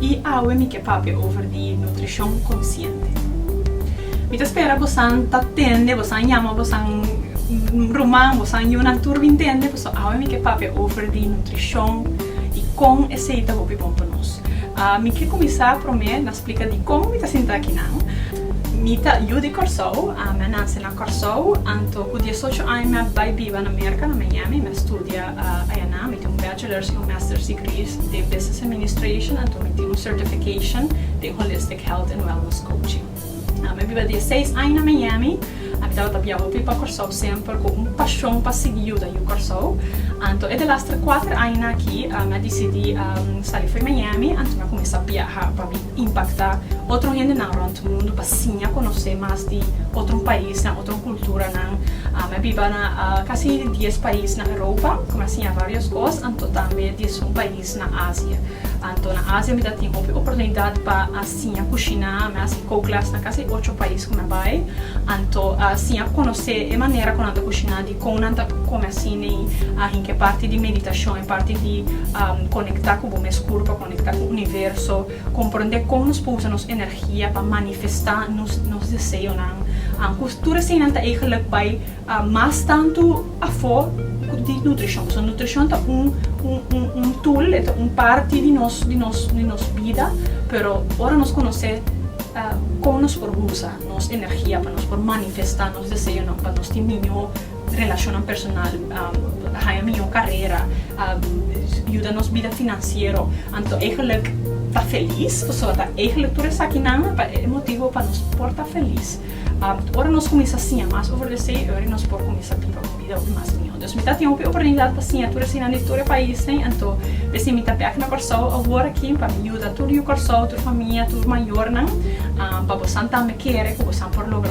y awe mi ke papia over di nutricion consciente. Mi ta spera bosan ta tende, bosan yama bosan ruman, bosan yunan tur bin tende, paso awe mi ke papia over di nutricion y con esey ta hopi bon pa nos. Mi ke cuminsa prome na splica dicon mi ta sinta aki nan. Mi ta yu di Corsou, mi a nace na Corsou, anto cu diesocho aña mi a bay biba na Merca, na Miami, mi a studia ayanan, mi tin un. Chiller si un Master's Degree den Business Administration anto mi tin un Certification den Holistic Health and Wellness Coaching. Mi a biba diesseis aña na Miami. A mi tabata bia hopi pa Kòrsou semper ku un pashon pa sigui yuda Yu Kòrsou. Anto e delastre kuater aña aki mi a disidí sali for Miami anto mi a kuminsá biaha pa mi. impacta otro hendenan rond mundo pa siña conoce mas di otro paisnan, otro culturanan. Mi a biba na casi dies pais na Europa, cu mi a siña varios cos, anto tambe diesun pais na Asia. Anto na Asia mi ta tin hopi oportunidad pa a siña cushina, mi a haci kookles na casi ocho pais cu mi a bay, anto a siña conoce e manera cu nan ta cushina, dicon nan ta come asina y ahin cu e parti di meditacion, e parti di conecta cu bo mes curpa. Conecta cu universo, comprende con nos por usa nos energia pa manifesta nos deseonan. Cu tur eseinan ta eigenlijk bay mas tanto afo di nutricion. Pasobra nutricion ta un tool, e ta un parti di nos bida, pero ora nos conoce con nos por usa nos energia pa nos por manifesta nos deseonan pa nos tin miño. Relashonnan personal, haña mihó karera, yuda nos bida finansiero. Anto eigenlijk ta felis, pasobra ta eigenlijk tur esakinan ta e motibo pa nos por ta felis. Ora nos kuminsá siña mas over esei, oei nos por kuminsá biba un bida hopi mas mihó. Entonces mi ta tin hopi oportunidat pa siña tur eseinan di tur e paisnan, anto besi mi ta bèk na Kòrsou awor aki pa mi yuda tur yu Kòrsou, tur famia, tur mayornan, pa bosan tambe kere ku bosan por logra.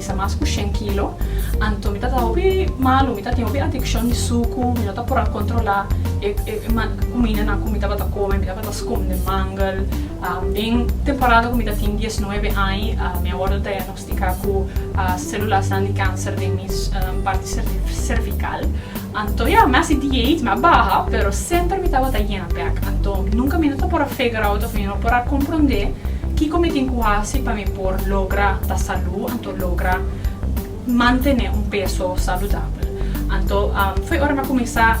Sa mas ku shen kilo. Anto mi ta ta hopi malu, mi ta tin hopi adikshon di suku, mi no ta por a kontrolá e kumindanan ku mi tabata kome, mi tabata skonde mangel. Den temporada ku mi ta tin dies nuebe aña, mi a wòrdu diagnostiká ku selulasnan di kanser den mi parti servikal. Anto ya, mi a sinti jeet, mi a baha, pero semper mi tabata yena bek. Anto, nunka mi no ta por a figure out of mi no por a komprondé kiko mi tin ku hasi pa mi por logra ta salú, anto logra mantené un peso saludabel. Anto, foi ora mi a kuminsá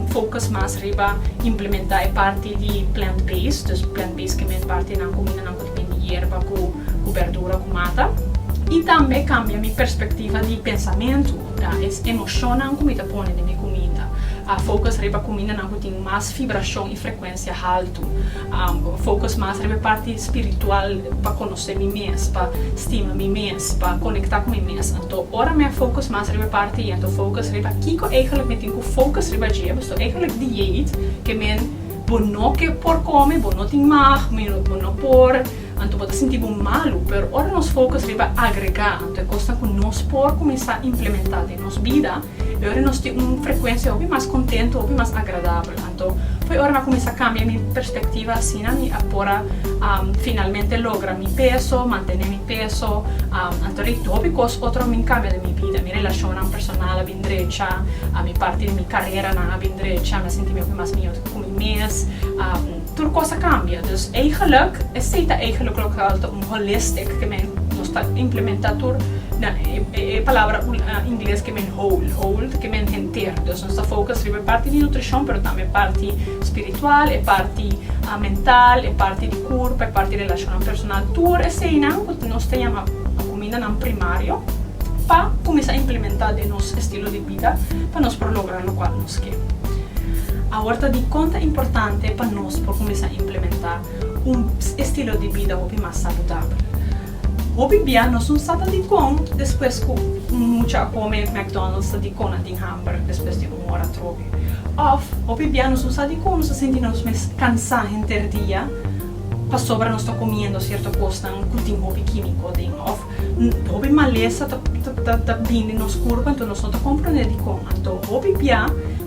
focus mas riba implementá e parti di plant based, dus plant based ke men parti nan kuminda nan ku ta bin di yerba ku berdura ku mata, i tambe kambia mi perspektiva di pensamentu. Ta es emoshonnan ku mi ta pone den mi kuminda. A fokus riba kumindanan ku tin mas fibrashon i frekuensia haltu. A fokus mas riba e parti spiritual, pa konosé mi mes, pa stima mi mes, pa konektá ku mi mes. Anto ora mi a fokus mas riba e parti ei, anto fokus riba kiko eigelik mi tin ku fokus riba dje. Pues to eigelik dieet ke men bo no ke por kome, bo no tin mag, bo no por. Anto bo ta sinti bo malu, pero ora nos focus riba agregá, anto e cosnan cu nos por cuminsá implementá den nos bida, e ora nos tin un frecuencia hopi mas contento, hopi mas agradabel. Anto, por e ora m'a cuminsá cambia mi perspectiva asina mi a por a finalmente logra mi peso, mantené mi peso, anto rei hopi cos otro a bin cambia den mi bida. Mi relacionnan personal a bin drecha, mi parti di mi careranan a bin drecha, mi a sinti mi hopi mas miaus cu mi mes. Tur kos a kambia. Dus eigenlijk, esei ta eigenlijk loke al ta un holistic ke men nos ta implementa tur na e palabra ingles ke men whole, whole ta ke men henter. Dus nos ta focus riba e parti di nutricion pero tambe e parti spiritual, e parti mental, e parti di curpa, e parti relacionnan personal. Tur eseinan cu nos ta yama cumindanan primario pa cuminsa implementa den nos estilo di. vida pa nos por logra lokual nos ke. Awor ta di konta importante pa nos por kuminsá implementá un estilo di bida hopi mas saludabel. Hopi bia nos no sa ta dikon despues ku un mucha a kome McDonald's ta dikon a tin hamber despues di un ora trobe. Òf hopi bia nos no sa dikon nos ta sinti nos mes kansá henter dia pasobra nos ta komiendo sierto kosnan ku tin hopi kímiko den. Hopi malesa ta bini nos kurpa, anto nos no ta komprendé dikon. Anto hopi bia,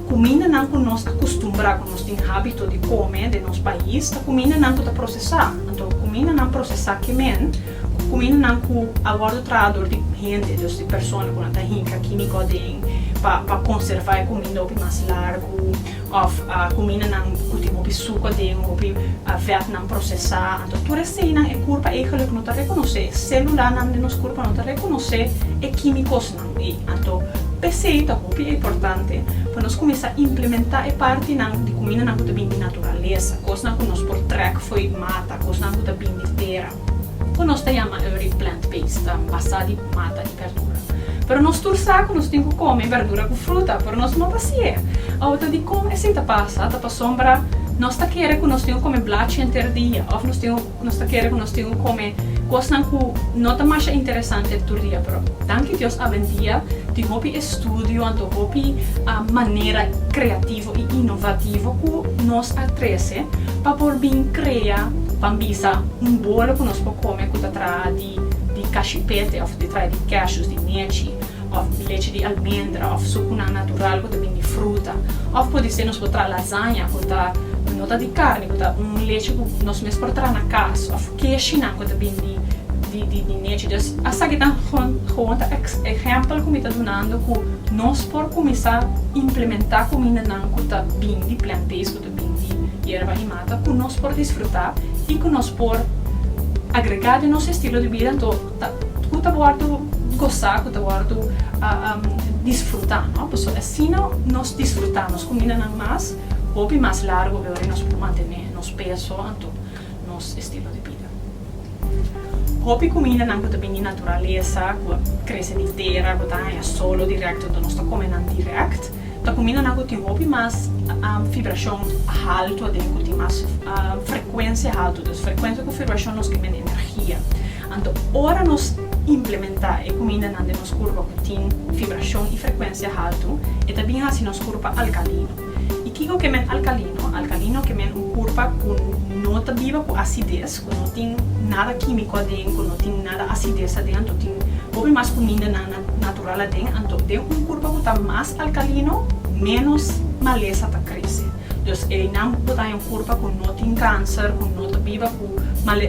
kumindanan ku nos a kustumbrá, ku nos tin hábito di kome den nos pais, ta kumindanan ku ta prosesá. Anto kumindanan prosesá kemen ku kumindanan ku a wòrdu traha dor di hende, dor di persona ku nan ta hinka kímiko aden pa konservá e kuminda hopi mas largu. Of kumindanan ku tin hopi suka den, hopi vètnan prosesá. Anto tur e seinan, e kurpa eigelik no ta rekonosé, e sélulanan den nos kurpa no ta rekonosé e kímikosnan ei. Anto p'esei ta hopi importante pa nos kuminsá implementá e partinan di kumindanan ku ta bini di naturalesa, kosnan ku nos por trèk fo'i mata, kosnan ku ta bini di tera. ku nos ta yama early plant based, ta basá di mata di berdura. Pero nos tur sa ku nos tin ku kome berdura ku fruta, pero nos no ta sier. Awe ta dikon esei ta pasa? Ta pasobra nos ta kere ku nos tin ku kome blachi enter dia òf nos tin nos ta kere ku nos tin ku kome kosnan ku no ta masha interesante tur dia. Pero danki Dios awendia tin hopi estudio anto hopi manera kreativo. y inovativo cu nos a trece pa por bin crea ban bisa un bolo cu nos por come cu ta traha di di cashipete of ta traha di cashews di nechi of leche di almendra of sucunan natural cu ta bin di fruta of podise nos por traha lasaña cu ta no ta di carne cu ta un leche cu nos mes por traha na cas of. Ki e shinan ku ta bini di di di nechi? Dus esaki ta gewoon ta ehèmpel ku mi ta dunando ku nos por kuminsá implementá kumindanan ku ta bini di plant based ku ta bini di yerba i mata ku nos por disfrutá i ku nos por agregá den nos estilo di bida anto ta ku ta wòrdu gosá ku ta wòrdu disfrutá no paso asina nos disfrutá nos kumindanan mas hopi mas largu awe ora i nos por mantené nos peso anto. nos estilo di bida. Hopi kumindanan ku ta bini di naturalesa, ku a krese di tera, ku ta haña solo dirèkto dor nos ta kome nan dirèkt, ta kumindanan ku tin hopi mas fibrashon haltu aden, ku tin mas frekuensia haltu. Dus frekuensia ku fibrashon nos kende energia. Anto ora nos implementá e kumindanan den nos kurpa ku tin fibrashon i frekuensia haltu, e ta bin hasi nos kurpa alkalino. I kiko ke men alkalino? Alkalino ke men un kurpa ku no ta biba ku asides, ku no tin nada kímiko aden, ku no tin nada asides aden, anto tin hopi mas kumindanan natural aden. Anto den un kurpa ku ta mas alkalino, ménos malesa ta krese. Dus einan bo ta haña un kurpa ku no tin kánser, ku no ta biba ku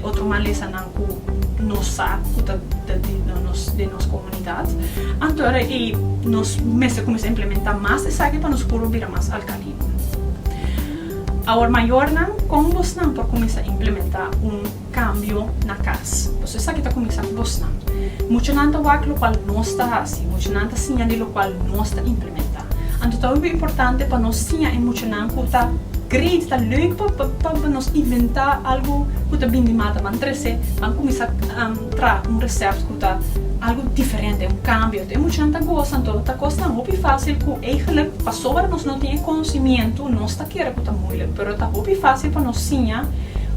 otro malesanan. cu nos sa cu ta den nos comunidad, anto era ey nos mester cuminsa implementa mas esaki pa nos puro bira mas alcalino. Awor mayornan, con bosnan por cuminsa implementa un cambio na cas? Pasobra esaki ta cuminsa cu bosnan. Muchanan ta wak locual nos ta haci, muchanan ta siña di locual nos ta implementa. Anto ta hopi importante pa nos siña e muchanan. Nan ku ta great, ta leuk pa nos inventá algu ku ta bin di mata ban trese, ban kuminsá traha un resèpt ku ta algu diferente, un kambio. E muchanan ta gosa, anto ta kos nan hopi fásil ku eigenlik pasobra nos no tin e konosementu nos ta kere ku ta muilik, pero ta hopi fásil pa nos siña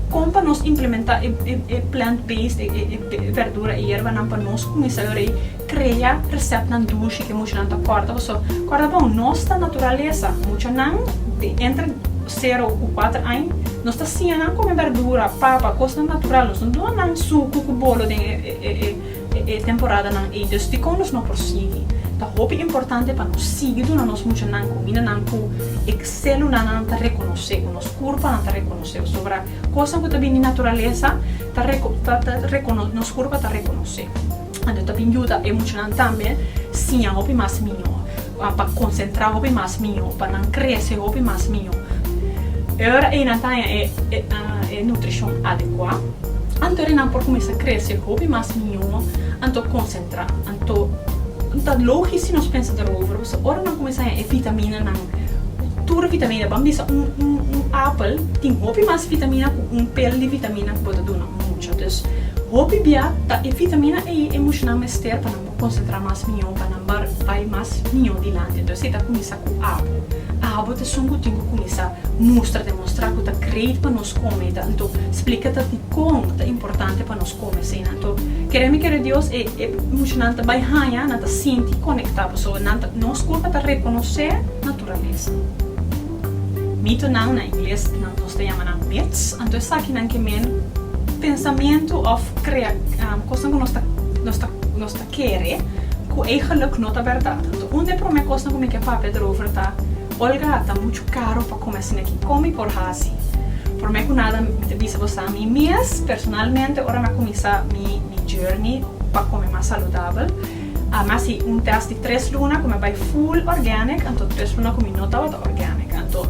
kon pa nos implementá e plant based, e bèrdura, e yerbanan pa nos kuminsá yòrei. Crea receptnan durshi ke muchanan ta corda paso corda bon nos ta naturalesa muchanan di entre cero cu cuatro aña nos ta siña nan come verdura, papa, cosnan natural nos no duna nan sucu cu bolo den e temporada nan ey dus dicon nos no por sigui ta hopi importante pa nos sigui duna nos muchanan comida nan cu e celula nan ta reconoce cu nos curpa nan ta reconoce pasobra cosnan cu ta bini di naturalesa ta ta ta nos curpa ta reconoce. Anto ta bin yuda e muchanan tambe siña hopi mas mihó, pa konsentrá hopi mas mihó, pa nan krese hopi mas mihó. E ora ei nan ta haña e nutrishon adekuá, anto e nan por kuminsá krese hopi mas mihó, anto konsentrá. Anto, ta lógis si nos pensa derover, pasobra ora nan kuminsá haña e vitaminanan, tur vitamina, ban bisa un apel tin hopi mas vitamina ku un pel di vitamina ku bo ta duna un mucha. Dus, hopi bia ta e vitamina ei e mushunan mester pa nan por konsentrá mas mihó, pa nan bar bai mas mihó dilanti. Entonces, e ta kuminsá ku abo. Abo ta esun ku tin ku kuminsá mustra, demostrá ku ta greit pa nos kome i ta. Anto, splika ta dikon ta importante pa nos kome eseinan. Anto, kere mi kere Dios, e e mushunan ta bai haña, nan ta sinti konektá. Pasobra nan ta, nos korp a ta rekonosé naturalesa. Mitonan, na ingles nos ta yama nan myths, anto esaki nan ke men pensamiento of krea kosnan ku nos ta kere ku eigenlik no ta bèrdat. Anto un den promé kosnan ku mi ke papia derover ta, Olga, ta muchu karu pa kome asin aki. Kon mi por hasi? Promé ku nada mi ta bisa boso a mi mes personalmente ora mi a kuminsá mi journey pa kome mas saludabel, Ama si un test di tres luna ku mi a bai full organic anto tres luna ku mi no tabata organic anto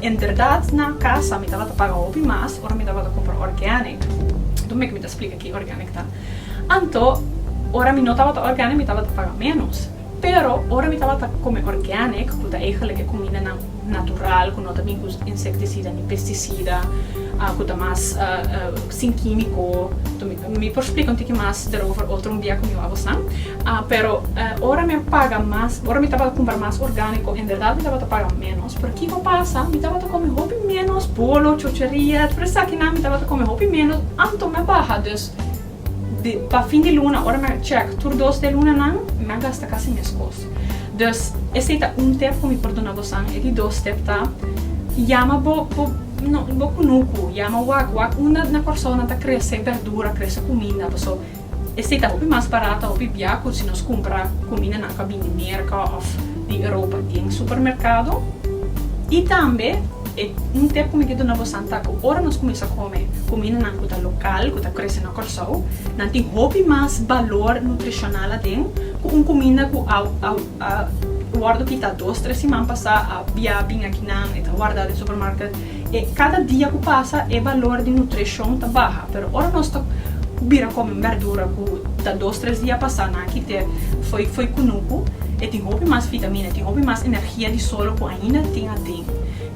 en berdad na kasa mi tabata paga hopi mas ora mi tabata kumpra organic anto mi ta splika ki organic ta anto ora mi no tabata organic mi tabata paga menos pero ora mi tabata kome organic ku ta eigenlijk e kumindanan natural ku no ta bin ku insecticida ni pesticida ku ta mas Sin químico, mi por splica un tiki mas derover otro un dia cu mi wou a bosan. Pero ora mi a paga mas, ora mi tabata cumpra mas organico, en berdad mi tabata paga menos. Pero kico pasa? Mi tabata come hopi menos bolo, chocheria, tur esakinan, mi tabata come hopi menos. Anto mi a baha, dus pa fin di luna ora mi a check tur dos di e lunanan, mi a gasta casi mescos. Dus, esei ta un tep ku mi por duna bosan. E di dos tep ta, Yama bo, bo, no, bo kunuku, yama wak, wak unda na Kòrsou nan ta krese bèrdura, krese kuminda. Paso, esei ta hopi mas barat, ta hopi bia ku si nos kumpra kumindanan ku a bini Merka òf di Europa den supermerkado. I tambe, e, un tep ku mi ke duna bosan ta ku ora nos kuminsha kome kumindanan ku ta lokal, ku ta krese na Kòrsou, nan tin hopi mas balor nutrishonal aden. Ku un kuminda ku a wòrdu kitá dos tres siman pasá a bia bin aki nan, e ta wardá den supermarket. E kada dia ku pasa e balor di nutrishon ta baha. Pero ora nos ta bira kome un bèrdura ku ta dos tres dia pasá nan a kit'é foi foi kunuku, e tin hopi mas vitamina, e tin hopi mas energia di solo ku ainda tin aden.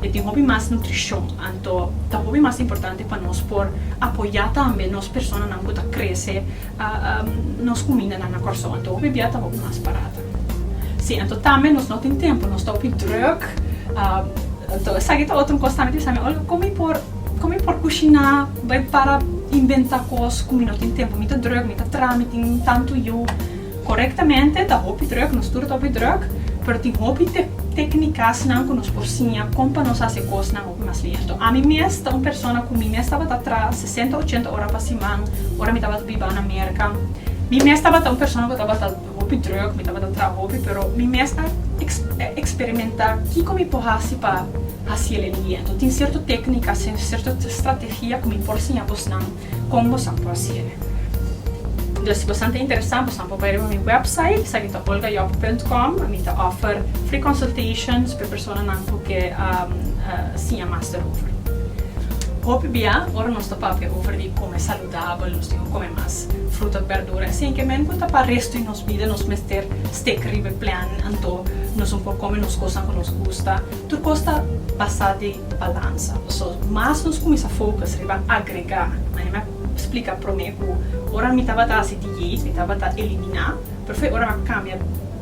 E tin hopi mas nutrishon. Anto ta hopi mas importante pa nos por apoyá tambe nos personanan ku ta krese. Nos kumindanan na Kòrsou ta hopi bia, ta hopi mas barata. Sí, anto tambe nos no tin tempu, nos ta hopi drùk. Anto esaki ta otro un kos tambe, ta bisa mi, Olga, kon mi por, kon mi por kushiná, bai para inventá kos ku mi no tin tempu? Mi ta drùk, mi ta traha, mi tin tantu yu. Korektamente ta hopi drùk, nos tur ta hopi drùk, pero tin hopi tèknikas nan ku nos por siña kon pa nos hasi e kosnan. Mas lento. Ami mes ta un persona cu mi mes tabata traha sesenta ochenta ora pa siman ora mi tabata biba na Merca. Mi mes tabata un persona cu tabata hopi drug, mi tabata traha hopi, pero mi mes a experimenta kico mi por haci pa haci e lento. Tin cierto tecnica, cierto strategia cu mi por siña bosnan. Kon bosan por hacibe. Entonces si bosan ta interesa bosan por bai riba mi website esaki ta olgayop punt com mi ta offer free consultations p'e personanan cu ke siña mas derover. Hopi bia ora nos ta papia over di come saludabel nos tin cu come mas fruta cu berdura e sin ke men cu ta pa resto di nos bida nos mester stick riba e plan anto nos un por come nos cosnan cu nos gusta tur cos ta basa di balansa. Paso mas nos cuminsa focus riba agrega, mane mi a splica prome cu ora mi tabata haci diet, mi tabata elimina, pero fue ora mi a cambia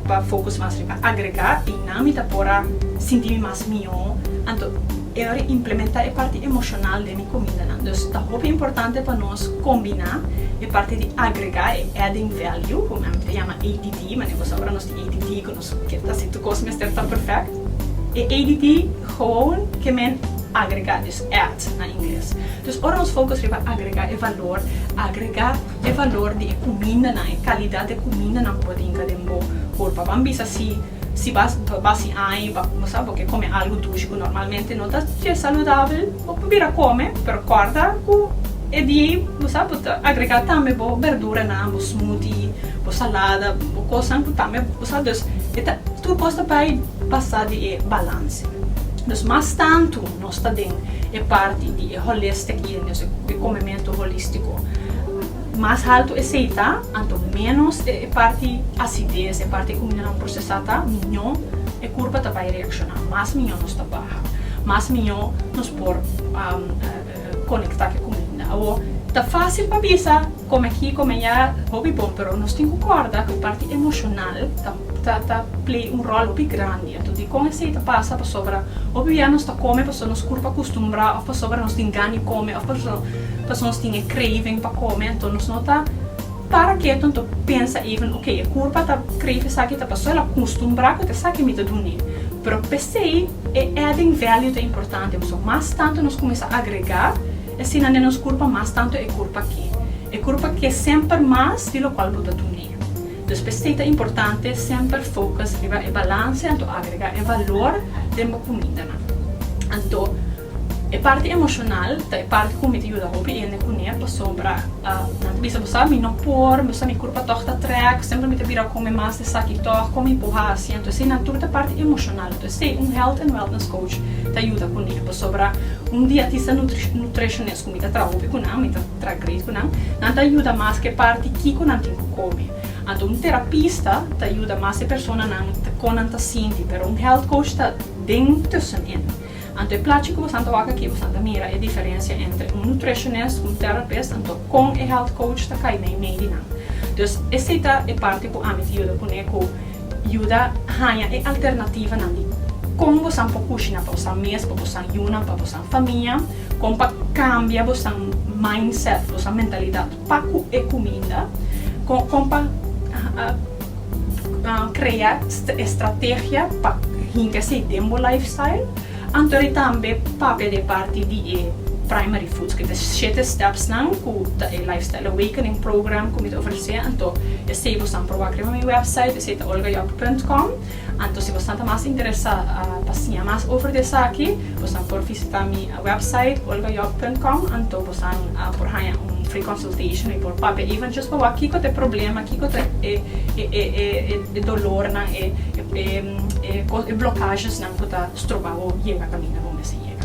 pa focus mas riba agrega y nan mi ta por a sinti mi mas miho, anto e ora di implementa e parti emocional den mi comindanan. Dus ta hopi importante pa nos combina e parti di agrega, e adding value, cu nan ta yama ADV, mane boso a ora nos tin ADD cu. Ta si tur cos mester ta perfect? E add gewoon ke men agrega, dus add na ingles. Dus ora nos focus riba agrega e valor, agrega e valor di e cumindanan, e calidad di e cumindanan cu bo tinga den bo curpa. Ban bisa si si bas basi ai, bo sa bo ke come algo dushi cu normalmente no ta saludabel. Bo por bira kome, pero kòrda ku e di ei, bo sa, bo ta agregá tambe bo berduranan, bo smoothie, bo salada, bo kosnan ku tambe bo sa. Dus e ta, tur kos ta bai basa di e balanse. Dus mas tantu nos ta den e parti di e holistic eating, es e komementu holístiko, mas haltu e seiti ta, anto ménos e parti asides, e parti kumindanan prosesá ta, miñó. kurpa ta bai reakshoná, mas mió nos ta baha, mas mió nos por konektá ku e kuminda. Awor, ta fásil pa bisa kome akí, kome ayá, hopi bon, pero nos tin ku kòrda ku e parti emoshonal ta play un ròl hopi grandi. Anto dikon esei ta pasa? Pasobra hopi bia nos ta kome pasobra nos kurpa kustumbrá òf pasobra nos tin gan di kome òf pasobra nos tin e craving pa kome, anto nos no ta. Para ketu anto pensa even ok e kurpa ta krei ku esaki ta pasó el a kustumbrá ku ta esaki mi ta dune pero p'esei e adding value ta importante pasobra mas tantu nos kuminsá agregá asina den nos kurpa mas tantu e kurpa ke e kurpa ke semper mas di lokual bo ta dune dus p'esei ta importante semper focus riba e balanse anto agregá e valor den bo kumindanan anto. E parti emoshonal ta e parti ku mi ta yuda hopi hende kuné pasobra nan ta bisa, Bo sa mi no por, bo sa mi kurpa tòg ta trèk, semper mi ta bira kome mas di esaki tòg, kon mi por hasi? Anto esei nan tur ta parti emoshonal. Anto esei un health and wellness coach ta yuda kuné pasobra un diatista nutrishonist ku mi ta traha hopi ku nan, mi ta traha great ku nan, nan ta yuda mas ku e parti kiko nan tin ku kome. Anto un terapista ta yuda mas e personanan kon nan ta sinti, pero un health coach ta den tussenin. Anto e plachi ku boso ta wak aki boso ta mira e diferensia entre un nutritionist, un therapist anto kon e health coach ta kai na e mei di nan. Dus esei ta e parti ku ami ta yuda kuné ku yuda haña e alternativanan di kon boso por kushina pa boso mes, pa boso yunan, pa boso famia, kon pa kambia boso mindset, boso mentalidat. Pa cu e cuminda con pa crea estrategia pa hinca esey den bo lifestyle, anto di tambe papia di e parti di e primary foods, cu ta e shete stepsnan cu ta e lifestyle awakening program cu mi ta ofrece, anto esey bo san proba crema mi website esey ta olgajob punt com. Anto si bosnan ta mas interesá pa siña mas over di esaki, bosnan por visitá mi website olgajob punt com, anto bosnan por haña un free consultation i por papia even just pa wak kiko ta e problema, kiko ta e dolornan, e blokashesnan ku ta stroba bo yega kaminda bo mester yega.